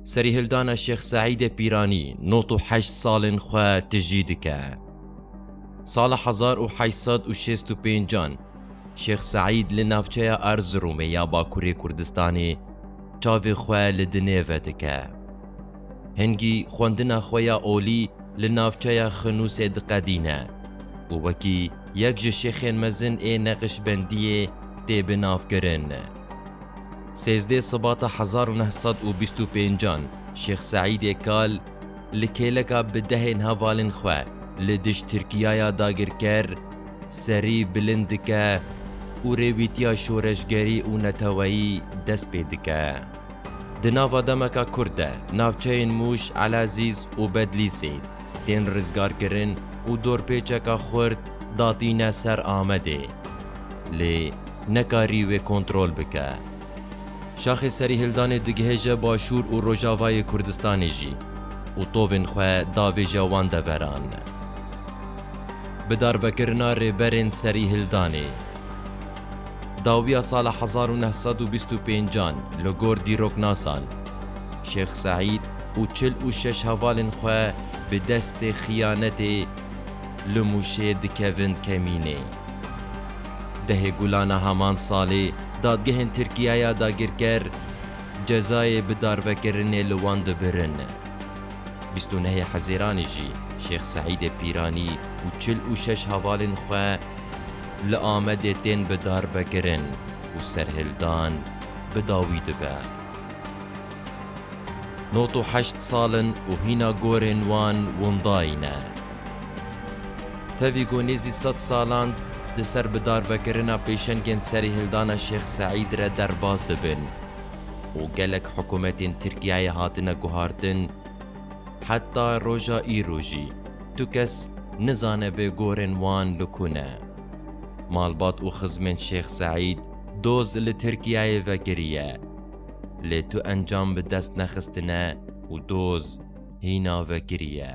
Serîhildana Şêx Seîdê Pîranî nod û heşt salên xwe tijî dike. Sala hezar û heşt sed û şêst û pênc an Şêx Seîd li navçeya Erziromê ya Bakurê Kurdistanê çavê xwe li dinê vedike. Hingî xwendina xwe ya olî li navçeya Xinûsê diqedîne û wekî yek ji şêxên mezin ê neqîşbendiyê tê binavkirin. Sêzdeh Sibata hezar û neh sed û bîst û pêncan Şêx Seîdê Kal li kêleka bi dehên hevalên xwe li dij Tirkiyaya dagirker serî bilind dike û rêwîtiya şoreşgerî û neteweyî dest pê dike. Di nava demeka kurd de navçeyên Mûş, Elazîz û Bedlîsê, tên rizgarkirin û dorpêçeka xurt datîne ser Amedê, lê nekarî wê kontrol bike. Şaxê Serîhildanê digihêje Başûr û Rojavayê Kurdistanê jî û tovên xwe davêje wan deveran. Bi darvekirina rêberên Serîhildanê. Dawiya sala hezar û neh sed û bîst û pêncan li gor dîroknasan, Şêx Seîd û çil û şeş hevalên xwe bi destê xiyanetê li Mûşê dikevin kemînê. Dehê Gulana heman salê dadgehên Tirkiye ya dagirker cezayê bi darvekirinê li wan dibirin. Bîst û nehê Hezêranê jî Şêx Seîdê Pîranî û çil û şeş hevalên xwe, Li Amedê tên bi darvekirin û serhildan bi dawî dibe. Nod û heşt sal in û hîna gorên wan windayî ne. Tevî ku nêzî sed salan di ser bi darvekirina pêşengên serîhildana Şêx Seîd re derbas dibin û gelek hikûmetên Tirkiyeyê hatine guhartin, Heta roja îro jî tu kes nizanebê gorên wan li ku ne. Malbat û xizmên Şêx Seîd doz li Tirkiyeyê vekiriye. Lê tu encam bi dest nexistine û doz hîna vekiriye.